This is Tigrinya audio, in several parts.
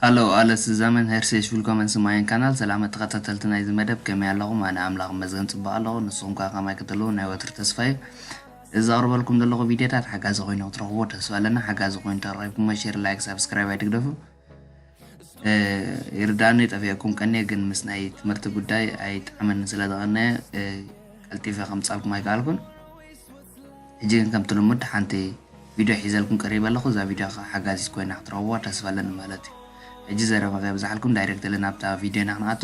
ሃሎ ኣለ ስዛመን ሄርሴሽ ቪልኮመን ስማየን ካናል ሰላመ ተኸታተልቲ ናይዚ መደብ ከመይ ኣለኹም ኣነ ኣምላኽ መዝገን ጽቡቕ ኣለኹ ንስኹም ከ ከማይ ክትህልው ናይ ወትሪ ተስፋ እዩ እዚ ዘቕርበልኩም ዘለኹ ቪድዮታት ሓጋዚ ኮይኑ ክትረኽብዎ ተስፋ ኣለና ሓጋዚ ኮይኑ ተረኺብኩሞ ሼር ላይክ ሳብስክራይብ ኣይትግደፉ ይርዳእኒ ጠፊኣኩም ቀኒየ ግን ምስ ናይ ትምህርቲ ጉዳይ ኣይጠዓመኒ ስለ ዝቐነየ ቀልጢፈ ከምፃልኩም ኣይከኣልኩን ሕጂ ግን ከምቲ ልሙድ ሓንቲ ቪድዮ ሒዘልኩም ቀሪበ ኣለኹ እዛ ቪድዮ ከዓ ሓጋዚት ኮይና ክትረኽብዋ ተስፋ ኣለኒ ማለት እዩ ሕጂ ዘረባ ከይብዛሓልኩም ዳይሬክትሊ ናብታ ቪድዮና ክንኣቱ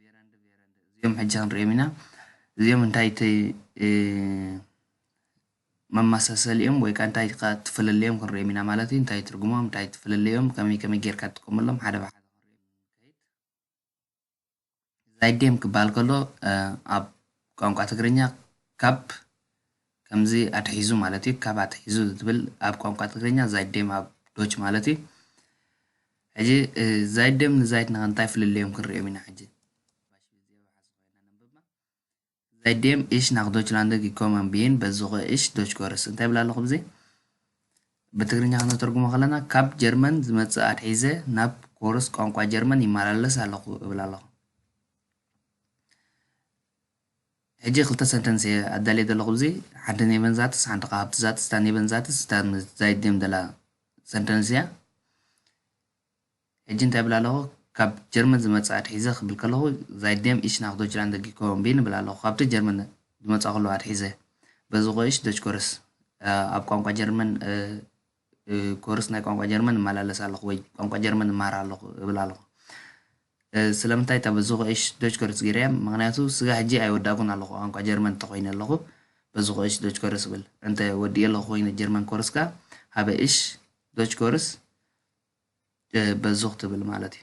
ቬረንድ ቬረንድ እዚኦም ሕጂ ክንሪኦም ኢና እዚኦም እንታይ መመሳሰሊኦም ወይ ከዓ እንታይ ከዓ ትፍልለዮም ክንሪኦም ኢና ማለት እዩ እንታይ ትርጉሞም እንታይ ትፍልለዮም ከመይ ከመይ ጌርካ ትጥቀመሎም ሓደ ብሓደ ዛይጌም ክበሃል ከሎ ኣብ ቋንቋ ትግርኛ ካብ ከምዚ ኣትሒዙ ማለት እዩ ካብ ኣትሒዙ ዝብል ኣብ ቋንቋ ትግርኛ ዛይዴም ኣብ ዶች ማለት እዩ ሕጂ ዛይዴም ንዛይት ንኸ እንታይ ፍልልዮም ክንሪኦም ኢና ሕጂ Seitdem ich nach Deutschland gekommen bin besuche ich Deutschkurs እንታይ ብላ ኣለኹ ብዘ ብትግርኛ ከነተርጉሞ ከለና ካብ ጀርመን ዝመፅእ ኣትሒዘ ናብ ኮርስ ቋንቋ ጀርመን ይመላለስ ኣለኹ እብል ኣለኹ ሕጂ ክልተ ሰንተንስ እየ ኣዳልየ ዘለኹ ኣብዚ ሓንቲ ኔቨን ዛትስ ሓንቲ ከኣ ሃብቲ ዛትስ እታ ኔቨን ዛትስ እታ ምስ ዛይት ድም ዘላ ሰንተንስ እያ ሕጂ እንታይ ይብል ኣለኹ ካብ ጀርመን ዝመጽእ ኣትሒዘ ክብል ከለኹ ዛይት ድም ኢሽ ናኽ ዶችላንድ ደጊኮ ቢን ይብል ኣለኹ ካብቲ ጀርመን ዝመጽእ ከለኹ ኣትሒዘ በዚ ቆይሽ ዶች ኮርስ ኣብ ቋንቋ ጀርመን ኮርስ ናይ ቋንቋ ጀርመን እመላለስ ኣለኹ ወይ ቋንቋ ጀርመን እመሃር ኣለኹ እብል ኣለኹ ስለምንታይ እታ በዝኹ እሽ ዶች ኮርስ ገይረ እያ ምክንያቱ ስጋ ሕጂ ኣይወዳእኩን ኣለኹ ቋንቋ ጀርመን እንተኮይነ ኣለኹ በዝኹ እሽ ዶች ኮርስ እብል እንተ ወዲእ ኣለኹ ኮይነ ጀርመን ኮርስ ከ ሃበ እሽ ዶች ኮርስ በዝኹ ትብል ማለት እዩ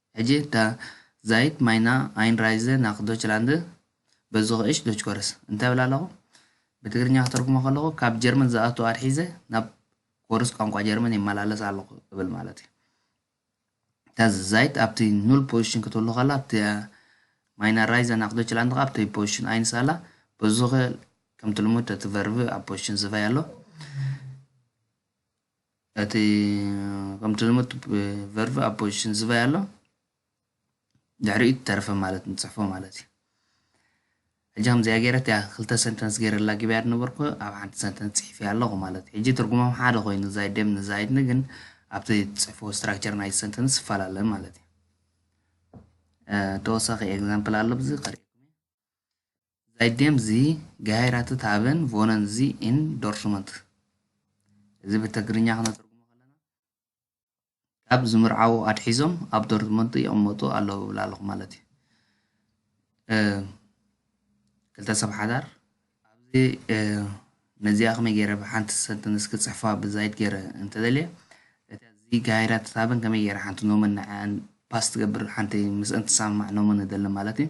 ሕጂ እታ ዛይት ማይና ኣይንራይዘ ናክ ዶችላንደ በዙኸ እሽ ዶችኮርስ እንታይ እብል ኣለኹ? ብትግርኛ ክተርጉሞ ከለኹ ካብ ጀርመን ዝኣቱ ኣትሒዘ ናብ ኮርስ ቋንቋ ጀርመን ይመላለስ ኣለኹ እብል ማለት እዩ። እታ ዛይት ኣብቲ ኑል ፖዚሽን ክትህሉ ከላ ኣብቲ ማይና ራይዘ ናክ ዶችላንደ ከኣ ኣብቲ ፖዚሽን ኣይንስ ኣላ በዙኸ ከምቲ ልሙድ እቲ ቨርብ ኣብ ፖዚሽን ዝቫይ ኣሎ። እቲ ከምቲ ልሙድ ቨርቭ ኣብ ፖዚሽን ዝበይ ኣሎ ድሕሪኡ ተረፈ ማለት ንፅሕፎ ማለት እዩ ሕጂ ከምዚኣ ገይረት እያ ክልተ ሰንተንስ ገይረ ላጊብያ ዝነበርኩ ኣብ ሓንቲ ሰንተንስ ፅሒፍ እያ ኣለኹ ማለት እዩ ሕጂ ትርጉሞም ሓደ ኮይኑ ዛይደም ንዛይድኒ ግን ኣብቲ ፅሕፎ ስትራክቸር ናይ ሰንተንስ ይፈላለ ማለት እዩ ተወሳኺ ኤግዛምፕል ኣሎ ብዚ ቀሪብኩም Seitdem sie geheiratet haben, wohnen sie in Dortmund እዚ ብትግርኛ ክነተርጉሞ ከለና ካብ ዝምርዓዉ ኣትሒዞም ኣብ ዶርትመንት ይቕመጡ ኣለዉ ብላ ኣለኹ ማለት እዩ ክልተ ሰብ ሓዳር ኣብዚ ነዚኣ ከመይ ገይረ ብሓንቲ ሰንተንስ ክፅሕፋ ብዛይድ ገይረ እንተደልየ እቲ እዚ ጋይራ ትታበን ከመይ ገይረ ሓንቲ ኖመን ንዓን ፓስ ትገብር ሓንቲ ምስአን ትሰማማዕ ኖመን እደሊ ማለት እዩ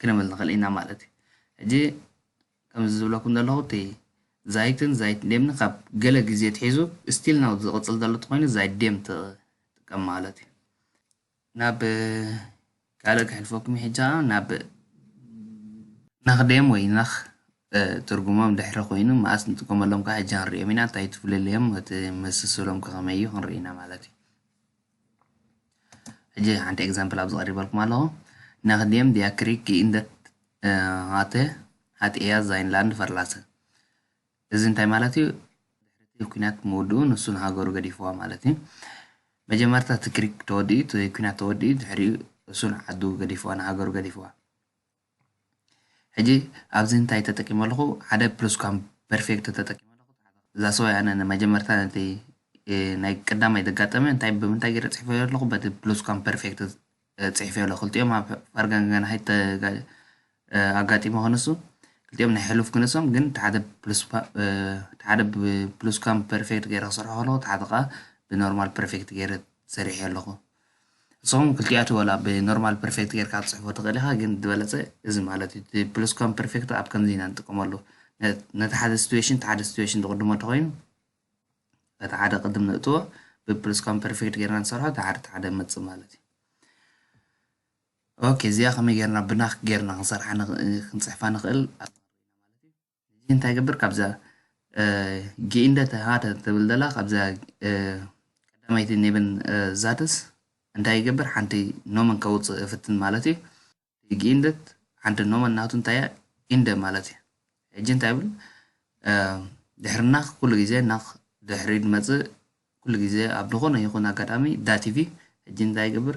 ክንብል ንኽእል ኢና ማለት እዩ ሕጂ ከምዚ ዝብለኩም ዘለኹ እቲ ዛይትን ዛይት ዴምን ካብ ገለ ግዜ ትሒዙ ስቲል ናው ዝቕፅል ዘሎ እንተኾይኑ ዛይት ዴም ትጥቀም ማለት እዩ ናብ ካልእ ክሕልፈኩም ሕጂ ናብ ናኽዴም ወይ ናኽ ትርጉሞም ድሕሪ ኮይኑ መኣስ ንጥቀመሎም ከዓ ሕጂ ክንሪኦም ኢና እንታይ ትፍልልዮም እቲ መሰስሎም ከኸመይ እዩ ክንርኢ ኢና ማለት እዩ ሕጂ ሓንቲ ኤግዛምፕል ኣብዚ ቀሪበልኩም ኣለኹ ናክዲየም ዲያክሪክ ኢንደት ሃተ ሃት ኤያ ዛይንላንድ ፈርላሰ እዚ እንታይ ማለት እዩ ድሕሪ ኩናት ምውድኡ ንሱ ንሃገሩ ገዲፍዋ ማለት እዩ መጀመርታ እቲ ክሪክ ተወዲኡ እቲ ኩናት ተወዲኡ ድሕሪኡ እሱ ንዓዱ ገዲፍዋ ንሃገሩ ገዲፍዋ ሕጂ ኣብዚ እንታይ ተጠቂመ ኣለኹ ሓደ ፕሉስኳም ፐርፌክቶ ተጠቂመ ኣለኹ እዛ ሰዋይ ኣነ ንመጀመርታ ነቲ ናይ ቀዳማይ ዘጋጠመ እንታይ ብምንታይ ገይረ ፅሒፈ ኣለኹ በቲ ፕሉስኳም ፐርፌክቶ ፅሒፈ ኣለኹ ክልቲኦም ኣብ ፋርጋንጋን ሃይት ኣጋጢሞ ክንሱ ክልቲኦም ናይ ሕሉፍ ክንሶም ግን እቲ ሓደ ፕሉስ እቲ ሓደ ብፕሉስኳም ፐርፌክት ገይረ ክሰርሖ ከለኹ እቲ ሓደ ከዓ ብኖርማል ፐርፌክት ገይረ ሰሪሐ ኣለኹ እሶም ክልቲኣቱ ወላ ብ ኖርማል ፐርፌክት ጌርካ ክትጽሕፎ ትኽእል ኢኻ ግን ዝበለጸ እዚ ማለት እዩ እቲ ፕሉስ ኳም ፐርፌክት ኣብ ከምዚ ኢና ንጥቀመሉ ነቲ ሓደ ሲትዌሽን እቲ ሓደ ሲትዌሽን ዝቕድሞ እንተኾይኑ እቲ ሓደ ቅድም ንእትዎ ብፕሉስ ኳም ፐርፌክት ጌርና ንሰርሖ እቲ ሓደ እቲ ሓደ መጽእ ማለት እዩ ኦኬ እዚኣ ከመይ ጌርና ብናክ ጌርና ክንሰርሓ ክንጽሕፋ ንኽእል እዚ እንታይ ይገብር ካብዛ ጌኢንደ ተሃተ ትብል ዘላ ካብዛ ቀዳማይቲ ኔብን ዛትስ እንታይ ይገብር ሓንቲ ኖመን ከውፅእ እፍትን ማለት እዩ ጌኢንደት ሓንቲ ኖመን ናቱ እንታይ እያ ኢንደ ማለት እዩ ሕጂ እንታይ ይብል ድሕሪ ናኽ ኩሉ ግዜ ናኽ ድሕሪ ድመፅእ ኩሉ ግዜ ኣብ ዝኾነ ይኹን ኣጋጣሚ ዳቲቪ ሕጂ እንታይ ይገብር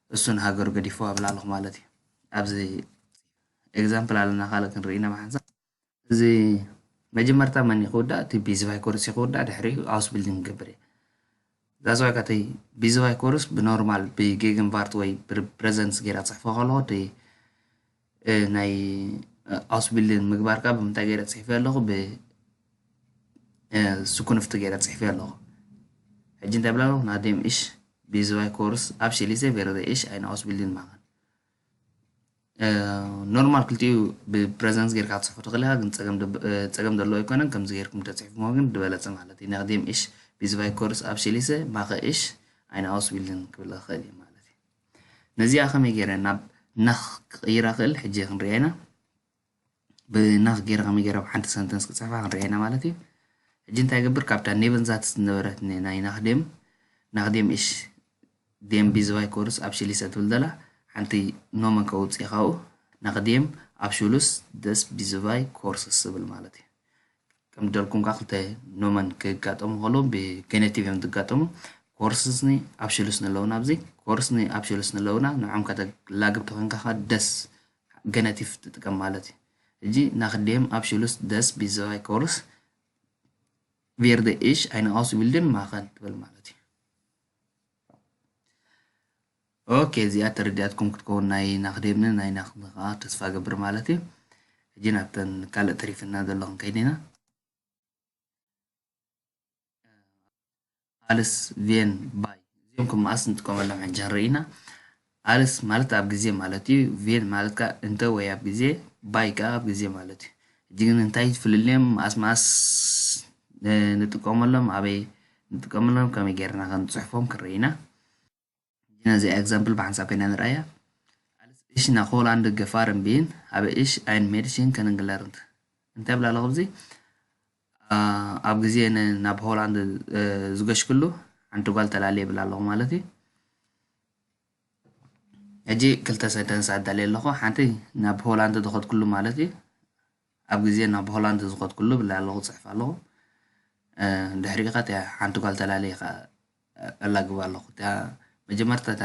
እሱ ንሃገሩ ገዲፍዋ ብላልኹ ማለት እዩ ኣብዚ ኤግዛምፕል ኣለና ካልእ ክንርኢ ኢና ብሓንሳብ እዚ መጀመርታ መን እዩ ክውዳእ እቲ ቢዝባይ ኮርስ እዩ ክውዳእ ድሕሪኡ ሃውስ ቢልዲንግ ክገብር እዩ ዛስዋይ ካተይ ቢዝባይ ኮርስ ብኖርማል ብጌግን ቫርት ወይ ብፕረዘንስ ጌራ ፅሕፎ ከለዎ እቲ ናይ ኣውስቢልዲንግ ምግባር ካብ ብምንታይ ገይረ ፅሒፈ ኣለኹ ብ ስኩንፍቲ ገይረ ፅሒፈ ኣለኹ ሕጂ እንታይ ብላ ኣለኹ ናዴም እሽ ቢዝባይ ኮርስ ኣብሽሊሰ ቬረደ እሽ ኣይነ ኣውስቢልዲንግ ማኻን ኖርማል ክልቲኡ ብፕሬዘንስ ጌርካ ትፅሕፎ ትኽእል ኢኻ ግን ፀገም ደብ- እ፣ ፀገም ዘለዎ ኣይኮነን ከምዚ ጌርኩም ተፅሒፍሞ ግን ዝበለፀ ማለት እዩ ናቅዴም እሽ ቢዝባይ ኮርስ ኣብሽሊሰ ማኸ እሽ ኣይነ ኣውስቢልዲንግ ክብል ይኽእል እዩ ማለት እዩ ነዚኣ ከመይ ገይረ ናብ ናኽ ክቕይራ ክእል ሕጂ ክንሪኣ ኢና ብናኽ ገይረ ከመይ ገይረ ኣብ ሓንቲ ሰንተንስ ክፅሕፋ ክንሪኣ ኢና ማለት እዩ ሕጂ እንታይ ገብር ካብታ ኔቨንዛትስ ዝነበረት ናይ ናኽ ዴም ናኽ ዴም እሽ ዴም ቢዝባይ ኮርስ ኣብ ሽሊሰ ትብል ዘላ ሓንቲ ኖመን ከውፅእ ካብኡ ናኽ ዴም ኣብ ሹሉስ ደስ ቢዝባይ ኮርስስ ዝብል ማለት እዩ ከም ደልኩም ከኣ ክልተ ኖመን ክጋጠሙ ከለዉ ብገነቲቭ እዮም ዝጋጠሙ ኮርስኒ ኣብሽሉስኒ ኣለዉና ኣብዚ ኮርስኒ ኣብሽሉስኒ ኣለዉና ንዖም ከተላግብ ተኮንካ ከ ደስ ገነቲቭ ትጥቀም ማለት እዩ እጂ ናክዴም ኣብሽሉስ ደስ ቢዘዋይ ኮርስ ቪርደ ኢሽ ኣይነ ኣውስቢልድን ማኸን ትብል ማለት እዩ ኦኬ እዚኣ ተረዲኣትኩም ክትከውን ናይ ናክዴብነ ናይ ናክሚ ከኣ ተስፋ ገብር ማለት እዩ ሕጂ ናብተን ካልእ ተሪፍና ዘሎ ክንከይድ ኢና ኣልስ ቬን ባይ እዚኦም ከም መኣስ ንጥቀመሎም ሕጂ ንርኢ ኢና ኣልስ ማለት ኣብ ግዜ ማለት እዩ ቬን ማለት ከዓ እንተ ወይ ኣብ ግዜ ባይ ከዓ ኣብ ግዜ ማለት እዩ ሕጂ ግን እንታይ ፍልልዮም መኣስ መኣስ ንጥቀመሎም ኣበይ ንጥቀመሎም ከመይ ጌርና ከንፅሕፎም ክንርኢ ኢና ጂና እዚኣ ኤግዛምፕል ብሓንሳብ ኮይና ንርኣያ። ኣልስ እሽ ናክ ሆላንድ ገፋርን ቢን ሃበ እሽ ኣይን ሜድሽን ከንንግለርንት እንታይ ብላ ኣለኹ እዙይ ኣብ ግዜ ናብ ሆላንድ ዝገሽክሉ ሓንቲ ጓል ተላለየ ብላ ኣለኹ ማለት እዩ ሕጂ ክልተ ሰንተንስ ኣዳልየ ኣለኹ ሓንቲ ናብ ሆላንድ ዝኸድክሉ ማለት እዩ ኣብ ግዜ ናብ ሆላንድ ዝኸድኩሉ ብላይ ኣለኹ ክጽሕፍ ኣለኹ ድሕሪኡ ከኣ እቲኣ ሓንቲ ጓል ተላለየ ከኣ ኣላግብ ኣለኹ እቲኣ መጀመርታ እታ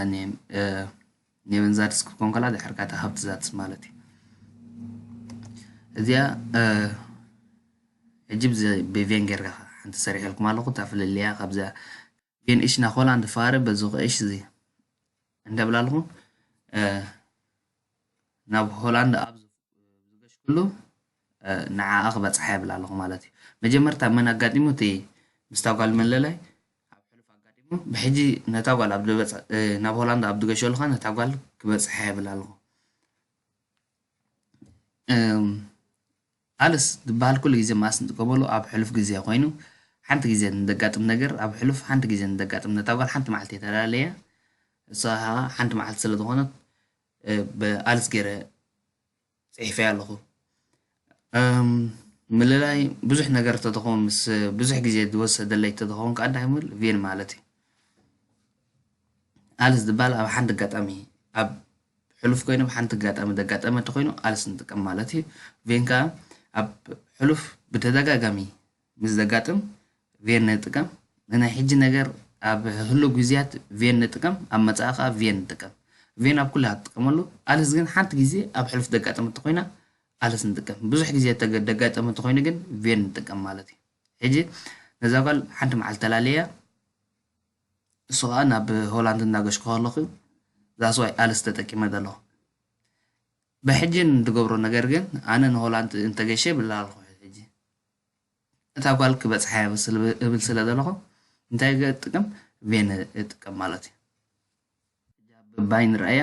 ኔቨንዛድስ ክትኮን ከላ ድሕሪ ከኣ እታ ሃብትዛድስ ማለት እዩ እዚኣ ሕጂ ብቬን ጌርካ ሓንቲ ሰሪሐልኩም ኣለኹ እታ ፍልልያ ካብዚኣ ጌን እሽ ናክ ሆላንድ ፋረ በዙክ እሽ እዚ እንደብላልኹ ናብ ሆላንድ ኣብ ዝገሽኩሉ ንዓኣ ክበፅሓ የብላ ኣለኹ ማለት እዩ መጀመርታ መን ኣጋጢሙ እቲ ምስታ ጓል መለላይ ኣብ ሕሉፍ ኣጋጢሙ ብሕጂ ነታ ጓል ኣብ ናብ ሆላንድ ኣብ ዝገሸሉ ኸ ነታ ጓል ክበፅሓ የብላ ኣለኹ ቃልስ ዝበሃል ኩሉ ግዜ መኣስ ንጥቀመሉ ኣብ ሕሉፍ ግዜ ኮይኑ ሓንቲ ግዜ ንደጋጥም ነገር ኣብ ሕሉፍ ሓንቲ ግዜ ንደጋጥም ነታ ጓል ሓንቲ መዓልቲ እየ ተላለያ እሳ ከኣ ሓንቲ መዓልቲ ስለ ዝኾነት ብኣልስ ገይረ ጽሒፈያ ኣለኹ ምልላይ ብዙሕ ነገር ተተኸውን ምስ ብዙሕ ግዜ ዝወሰደለይ ተተኸውን ከኣ እንታይ ምል ቪን ማለት እዩ ኣልስ ዝበሃል ኣብ ሓንቲ ኣጋጣሚ ኣብ ብሕሉፍ ኮይኑ ብ ሓንቲ ኣጋጣሚ ዘጋጠመ እንተኾይኑ ቃልሲ ንጥቀም ማለት እዩ። ቬን ከኣ ኣብ ሕሉፍ ብተደጋጋሚ ምስ ዘጋጥም ቬን ንጥቀም። ንናይ ሕጂ ነገር ኣብ ህሉው ግዝያት ቬን ንጥቀም፣ ኣብ መጻኢ ከኣ ቬን ንጥቀም። ቬን ኣብ ኩሉ ኢኻ ትጥቀመሉ፣ ቃልስ ግን ሓንቲ ግዜ ኣብ ሕሉፍ ዘጋጠመት እንተኾይና ቃልስ ንጥቀም። ብዙሕ ግዜ ዘጋጠመ እንተኾይኑ ግን ቬን ንጥቀም ማለት እዩ። ሕጂ ነዛ ጓል ሓንቲ መዓልቲ ተላልየያ ንሱ ከኣ ናብ ሆላንድ እንዳገሽኩ ከለኹ that's why ኣልስ ተጠቂመ ዘለኹ ብሕጂ ንድገብሮ ነገር ግን ኣነ ንሆላንድ እንተገሸ ብላ ኣለኹ ሕጂ እታ ጓል ክበጽሓ እብል ስለ ዘለኹ እንታይ ገጥቅም ቬን እጥቀም ማለት እዩ ባይ ንርኣያ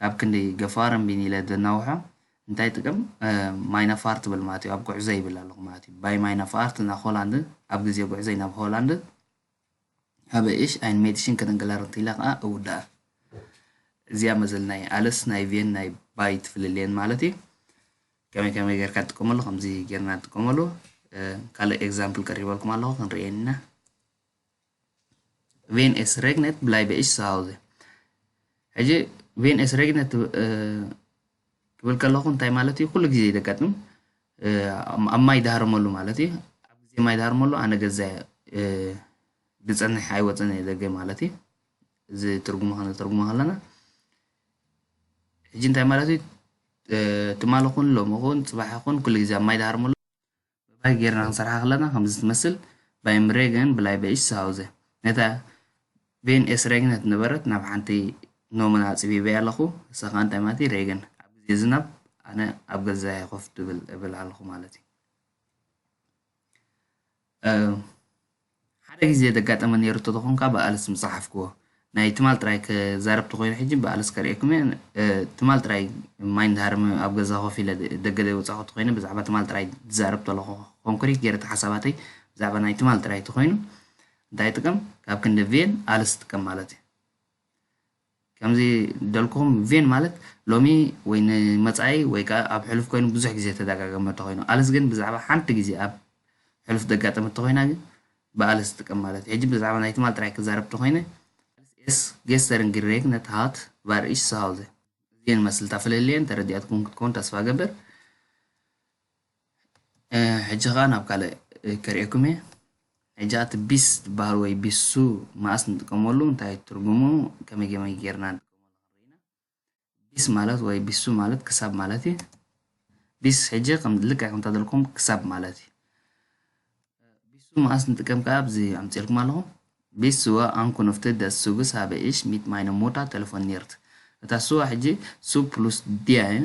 ካብ ክንዲ ገፋር እምቢኒ ኢለ ዘናውሖ እንታይ ጥቅም ማይናፋር ትብል ማለት እዩ ኣብ ጉዕዘ ይብል ኣለኹ ማለት እዩ ባይ ማይናፋር ትናኽ ሆላንድን ኣብ ግዜ ጉዕዘይ ናብ ሆላንድን ኣብ እሽ ኣይን ሜድሽን ከደንገላር እንት ኢለ ከዓ እውዳኣ እዚኣ መዘል ናይ ኣለስ ናይ ቬን ናይ ባይ ትፍልልየን ማለት እዩ ከመይ ከመይ ጌርካ ትጥቀመሉ ከምዚ ጌርና ንጥቀመሉ ካልእ ኤግዛምፕል ቀሪበልኩም ኣለኹ ክንሪኤን ኢና ቬን ኤስ ሬግነት ብላይ በኢሽ ሳውዘ ሕጂ ቬን ኤስ ሬግነት ክብል ከለኹ እንታይ ማለት እዩ ኩሉ ግዜ ዘጋጥም ኣብ ማይ ዳሃርመሉ ማለት እዩ ኣብ ግዜ ማይ ዳሃርመሉ ኣነ ገዛ ብፅንሕ ኣይወፅን እየ ደገ ማለት እዩ እዚ ትርጉሙ ከነተርጉሞ ከለና ሕጂ እንታይ ማለት እዩ ትማሊ ኹን ሎሚ ኹን ፅባሕ ኹን ኩሉ ግዜ ኣብ ማይ ዳሃርመሉ ብባይ ጌርና ክንሰርሓ ከለና ከምዚ ትመስል ባይም ሬገን ብላይ በኢሽ ዝሃውዘ ነታ ቬን ኤስ ሬግነት ነበረት ናብ ሓንቲ ኖመና ኣፅቢበያ ኣለኹ እሳ ከዓ እንታይ ማለት እዩ ሬገን ኣብ ግዜ ዝናብ ኣነ ኣብ ገዛየ ኮፍ ድብል እብል ኣለኹ ማለት እዩ ሓደ ግዜ ዘጋጠመ ኔሩ ተተኮንካ ብኣልስ ምጸሓፍክዎ ናይ ትማል ጥራይ ክዛረብ ተኮይነ ሕጂ ብኣልስ ከርእየኩም እየ ትማል ጥራይ ማይንድ ሃርም ኣብ ገዛ ኮፍ ኢለ ደገ ዘይወጻኩ ተኮይነ ብዛዕባ ትማል ጥራይ ዝዛረብ ተለኩ ኮንክሪት ጌረ ሓሳባተይ ብዛዕባ ናይ ትማል ጥራይ ተኮይኑ እንታይ ይጥቀም ካብ ክንዲ ቪን ኣልስ ይጥቀም ማለት እዩ ከምዚ ደልኩም ቪን ማለት ሎሚ ወይ ንመጻኢ ወይ ከኣ ኣብ ሕሉፍ ኮይኑ ብዙሕ ግዜ ተደጋገመ ተኾይኑ ኣልስ ግን ብዛዕባ ሓንቲ ግዜ ኣብ ሕሉፍ ደጋጠመት ተኾይና ግን ብኣልስ ትጥቀም ማለት እዩ ሕጂ ብዛዕባ ናይ ትማል ጥራይ ክዛረብ ተኾይነ ኣልስ ኤስ ጌስተርን ግሬግነት ሃት ቫር ኢሽ ሰሃውዘ እዚኤን መስልታ ፍልልየን ተረዲኣትኩም ክትኮን ተስፋ ገብር ሕጂ ከኣ ናብ ካልእ ከርእየኩም እየ ሕጂ ኣቲ ቢስ ዝበሃል ወይ ቢሱ መኣስ ንጥቀመሉ እንታይ እዩ ትርጉሙ ከመይ ከመይ ጌርና ንጥቀመሉ ክንርኢ ኢና ቢስ ማለት ወይ ቢሱ ማለት ክሳብ ማለት እዩ ቢስ ሕጂ ከም ልክዕ ከምታ ዘለኩም ክሳብ ማለት እዩ ቢሱ መኣስ ንጥቀም ከኣ ኣብዚ ኣምፅልኩም ኣለኹ ቢስ ስዋ ኣንኩኖፍቲ ደስ ሱግስ ሃበ ኢሽ ሚት ማይነ ሞታ ቴሌፎን ኒርት እታ ስዋ ሕጂ ሱ ፕሉስ ዲያ እዩ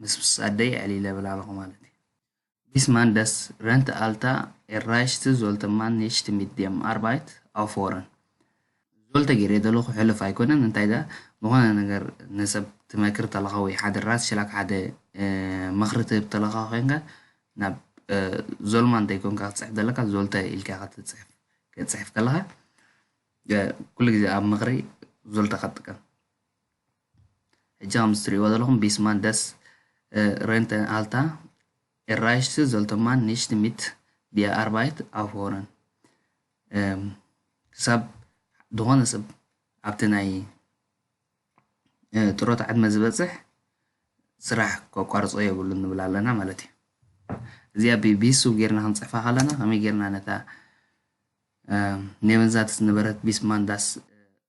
ምስ ኣደይ ዕሊለ ብላለኹ ማለት እዩ። ቢስማን ደስ ረንት ኣልታ ኤራይሽት ዞልተ ማን ኒሽት ሚት ዴም ኣርባይት ኣውፎረን። ዞልተ ጌሬ ደለኹ ሕሉፍ ኣይኮነን እንታይ ደኣ ዝኾነ ነገር ንሰብ ትመክር ተለኻ ወይ ሓደ ራትሽላክ ሓደ ምኽሪ ትህብ ተለኻ ኮንካ ናብ ዞልማ እንተይኮንካ ክትፅሕፍ ዘለካ ዞልተ ኢልካ ኢኻ ትፅሕፍ ክትፅሕፍ ከለኻ ኩሉ ግዜ ኣብ ምኽሪ ዞልተ ከጥቀም ሕጂ ከምዚ ትርእይዎ ዘለኹም ቢስማን ደስ ረንተ ኣልታ ኤራይሽት ዘልቶማን ኒሽት ሚት ቢያ ኣርባይት ኣፎረን ክሳብ ዝኾነ ሰብ ኣብቲ ናይ ጥሮታ ዕድመ ዝበፅሕ ስራሕ ከቋርፆ የብሉ ንብል ኣለና ማለት እዩ እዚኣ ብቢሱ ጌርና ክንፅሕፋ ከለና ከመይ ጌርና ነታ ኔቨንዛትስ ነበረት ቢስማንዳስ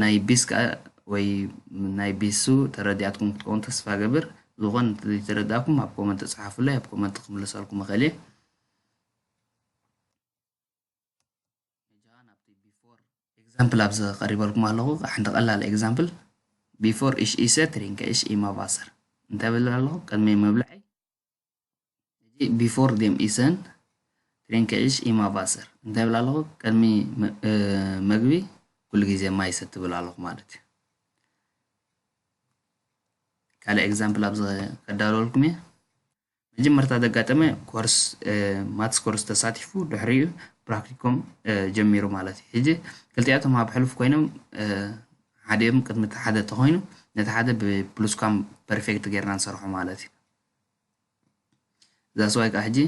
ናይ ቢስ ከኣ ወይ ናይ ቢሱ ተረዲኣትኩም ክትከውን ተስፋ ገብር ዝኾነ እንተዘይተረዳእኩም ኣብ ኮመንት ጸሓፉለይ ኣብ ኮመንት ክምልሰልኩም እኽእል እየ ኤግዛምፕል ኣብዚ ቀሪበልኩም ኣለኹ ሓንቲ ቀላል ኤግዛምፕል ቢፎር ኢሽ ኢሰ ትሪንከ ኢሽ ኢማባሰር እንታይ ብል ኣለኹ ቅድሚ ምብልዐይ ሕጂ ቢፎር ዴም ኢሰን ትሬንከዒሽ ኢማ ቫሰር እንታይ ይብል ኣለኹ ቅድሚ መግቢ ኩሉ ግዜ ማይ ሰቲ ብል ኣለኹ ማለት እዩ ካልእ ኤግዛምፕል ኣብዚ ከዳለወልኩም እየ መጀመርታ ዘጋጠመ ኮርስ ማትስ ኮርስ ተሳቲፉ ድሕሪኡ ፕራክቲኮም ጀሚሩ ማለት እዩ ሕጂ ክልቲኣቶም ኣብ ሕሉፍ ኮይኖም ሓዲኦም ቅድሚ እቲ ሓደ ተኮይኑ ነቲ ሓደ ብፕሉስካም ፐርፌክት ጌርና ንሰርሖ ማለት እዩ That's why ከኣ ሕጂ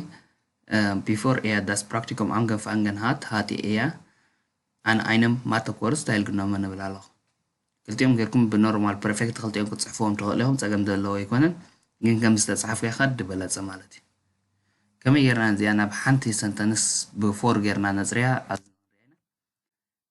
ቢፎር እያ ዳስ ፕራክቲኮም ኣንገን ፋንገን ሃት ሃት እያ ኣነ ኣይነም ማተኮር ስታይል ግኖመ ንብል ኣለኹ ክልቲኦም ጌርኩም ብኖርማል ፐርፌክት ክልቲኦም ክትፅሕፍዎም ትኽእሉ ኢኹም ፀገም ዘለዎ ኣይኮነን ግን ከም ዝተፅሓፉ እያ ካድ ድበለፀ ማለት እዩ ከመይ ጌርና እዚኣ ናብ ሓንቲ ሰንተንስ ብፎር ጌርና ነፅርያ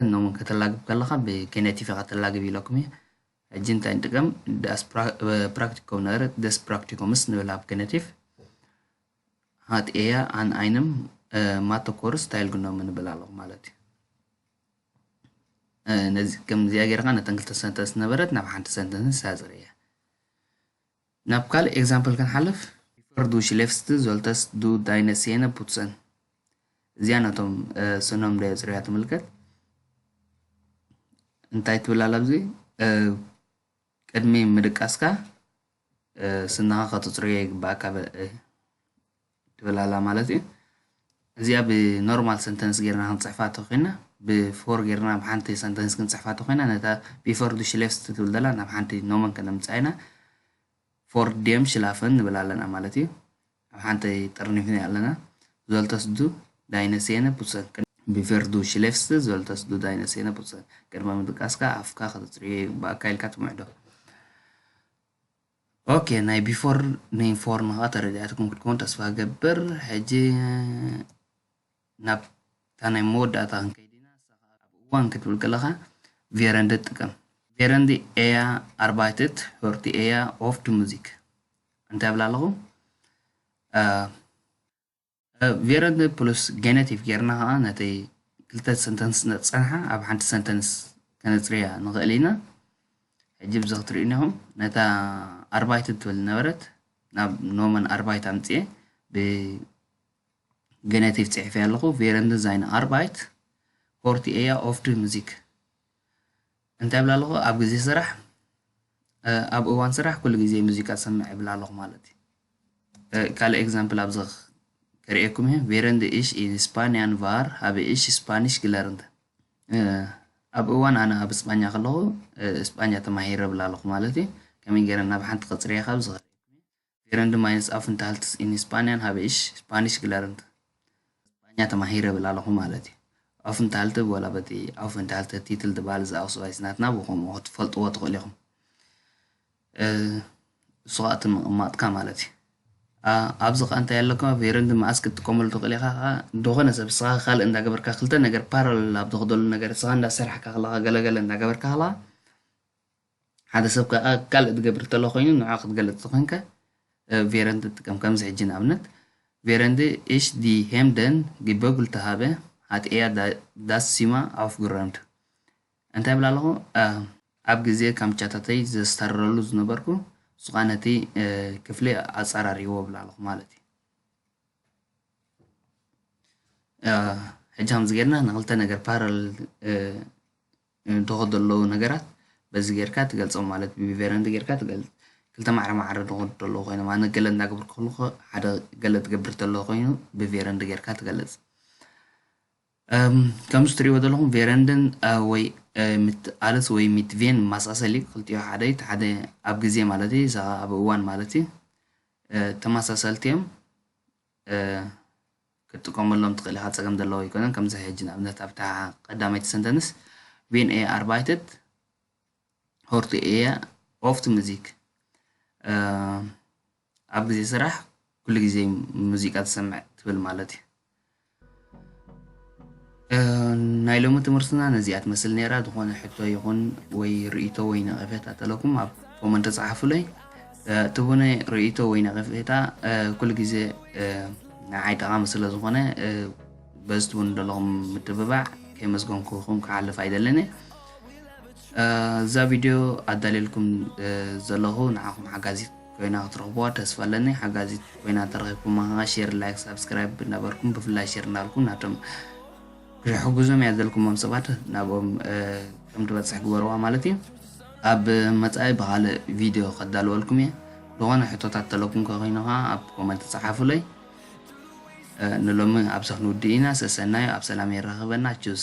እኖም ከተላግብ ከለኻ ብኬኔቲቭ ኢኻ ተላግብ ኢለኩም እየ ሕጂ እንታይ ንጥቀም ዳስ ፕራክቲኮም ነበረ ደስ ፕራክቲኮምስ ንብል ኣብ ኬኔቲቭ ሃት ኤያ ኣን ኣይንም ማተኮር ስታይል ግኖም ንብል ኣለኹ ማለት እዩ ነዚ ከምዚኣ ጌርካ ነተን ክልተ ሰንተንስ ነበረት ናብ ሓንቲ ሰንተንስ ሳፅር እያ ናብ ካልእ ኤግዛምፕል ክንሓልፍ፣ ቢፈር ዱ ሽሌፍስት ዞልተስ ዱ ዳይነ ሴነ ፑትሰን፣ እዚኣ ነቶም ስኖም ደየጽርያ ትምልከት። እንታይ ትብል ኣላ ኣብዚ ቅድሚ ምድቃስካ ስንኻ ከተጽርዮ ይግባኣካ ትብል ኣላ ማለት እዩ። እዚኣ ብኖርማል ሰንተንስ ጌርና ክንጽሕፋ ተኾይና ብፎር ጌርና ናብ ሓንቲ ሰንተንስ ክንጽሕፋ ተኾይና ነታ ቢፎር ዱ ሽሌፍስ ትብል ዘላ ናብ ሓንቲ ኖመን ከነምጽኣ ኢና ፎር ዴም ሽላፈን ንብል ኣለና ማለት እዩ። ኣብ ሓንቲ ጥርኒፍኒ ኣለና ዞልተስ ዱ ዳይነ ሴነ ፑትሰን ቢፈር ዱ ሽሌፍስ ዞልተስ ዱ ዳይነ ሴነ ፑትሰን ቅድመ ምድቃስካ ኣፍካ ከተጽርዮ ይግባኣካ ኢልካ ትምዕዶ ኦኬ ናይ ቢፎር ን ፎር ን ከኣ ተረዲኣትኩም ክትከውን ተስፋ እገብር ሕጂ ናብ እታ ናይ መወዳእታ ክንከይድ ኢና እሳ ከኣ ኣብ እዋን ክትብል ከለካ ቬረንድ ጥቀም ቬረንድ ኤያ ኣርባይትት ሆርቲ ኤያ ኦፍት ሙዚክ እንታይ እብል ኣለኹ ቬረንት ፕሉስ ጌነቲቭ ጌርና ከኣ ነቲ ክልተ ሰንተንስ ነጸንሓ ኣብ ሓንቲ ሰንተንስ ከነጽርያ ንኽእል ኢና ሕጂ ብዚ ክትርእዩኒ ኢኹም ነታ ኣርባይትን ትብል ነበረት ናብ ኖመን ኣርባይት ኣምጽኤ ብጌነቲቭ ጽሒፈያ ኣለኹ ቬረንትን ዛይን ኣርባይት ኮርቲ ኤያ ኦፍድ ሙዚክ እንታይ ይብል ኣለኹ ኣብ ግዜ ስራሕ ኣብ እዋን ስራሕ ኩሉ ግዜ ሙዚቃ ትሰምዕ ይብል ኣለኹ ማለት እዩ ካልእ ኤግዛምፕል ኣብዚ ከርእየኩም እዩ ቬረንድ ኢሽ ኢዝ ስፓንያን ቫር ሃበ ኢሽ ስፓኒሽ ግለርንተ ኣብ እዋን ኣነ ኣብ እስጳኛ ከለኹ እስጳኛ ተማሂረ ይብል ኣለኹ ማለት እዩ ከመይ ገይረ ናብ ሓንቲ ቅፅሪ እያ ካብ ዝኸ Gerund meines Aufenthalts in Spanien habe ich Spanisch gelernt። ስጳኛ ተማሂረ እብል ኣለኹ ማለት እዩ። Aufenthalte እብ ወላ በቲ Aufenthalte Titel ድባል እዚ ኣውስባይስ ናትና ብከምኡ ክትፈልጥዎ ትኽእሉ ኢኹም። እሱ ከዓ እቲ ምቕማጥካ ማለት እዩ። ኣብዚ ከዓ እንታይ ኣለካ ቬረንድ መዓስ ክትጥቀመሉ ትኽእል ኢኻ ከዓ ዝኾነ ሰብ ስኻ ካልእ እንዳገበርካ ክልተ ነገር ፓራለል ኣብ ዝኽደሉ ነገር ስኻ እንዳሰራሕካ ከለኻ ገለገለ እንዳገበርካ ከለኻ ሓደ ሰብ ከኣ ካልእ ዝገብር ተሎ ኮይኑ ንዑ ክትገልጽ ተኾይንካ ቬረንድ ትጥቀም ከምዚ ሕጂ ንኣብነት ቬረንድ እሽ ዲ ሄምደን ግበጉል ተሃበ ሃት ኤያ ዳስ ሲማ ኣፍ ግረንድ እንታይ ብላ ኣለኹ ኣብ ግዜ ካምቻታተይ ዘስተርረሉ ዝነበርኩ ሱኻ ነቲ ክፍሊ ኣጸራሪዎ ብላ ኣለኹ ማለት እዩ ሕጂ ከምዚ ጌርና ንክልተ ነገር ፓራል ንድኹ ደለዉ ነገራት በዚ ጌርካ ትገልጾም ማለት ብቢቨረ እንተ ጌርካ ትገልጽ ክልተ ማዕረ ማዕረ ድኹ ደለዉ ኮይኖም ኣነ ገለ እንዳ ግብርኩ ከለኹ ሓደ ገለ ትገብር ተለዉ ኮይኑ ብቬረ እንደ ጌርካ ትገልጽ ከምዚ ትርእይዎ ዘለኹም ቬረንድን ወይ ምት ኣልስ ወይ ምት ቬን ማሳሰል እዩ ክልቲኦ ሓደ እዩ ሓደ ኣብ ግዜ ማለት እዩ እዛ ኣብ እዋን ማለት እዩ ተመሳሰልቲ እዮም ክትጥቀመሎም ትኽእል ኢኻ ፀገም ዘለዎ ኣይኮነን ከምዚ ሕጂ ንኣብነት ኣብ ታሓ ቀዳመይቲ ሰንተንስ ቪን ኤ ኣርባይትት ሆርቲ ኤየ ኦፍት ሙዚክ ኣብ ግዜ ስራሕ ኩሉ ግዜ ሙዚቃ ትሰምዕ ትብል ማለት እዩ ናይ ሎሚ ትምህርትና ነዚኣ ትመስል ነይራ ዝኾነ ሕቶ ይኹን ወይ ርእይቶ ወይ ነቐፌታ ተለኩም ኣብ ኮመንት ተጻሓፉለይ እቲ ቡነ ርእይቶ ወይ ነቐፌታ ኩሉ ግዜ ንዓይ ጠቓሚ ስለ ዝኾነ በዚ ትብሉ ዘለኹም ምትብባዕ ከየመስገንኩኹም ክሓልፍ ኣይደልን እየ እዛ ቪድዮ ኣዳልየልኩም ዘለኹ ንዓኹም ሓጋዚት ኮይና ክትረኽቡዋ ተስፋ ኣለኒ። ሓጋዚት ኮይና ተረኺብኩማ ከኣ ሼር፣ ላይክ፣ ሳብስክራይብ እናበርኩም ብፍላይ ሼር እናበልኩም ናቶም ክሕግዞም እያ ዘልኩሞም ሰባት ናብኦም ከም ትበጽሕ ግበርዋ ማለት እዩ። ኣብ መጻኢ ብኻልእ ቪድዮ ከዳልወልኩም እየ። ዝኾነ ሕቶታት ተለኩም ከኮይኑ ከኣ ኣብ ኮመንት ጸሓፉለይ። ንሎሚ ኣብዚ ክንውድእ ኢና። ሰሰናዩ ኣብ ሰላም የራኽበና። ቹዝ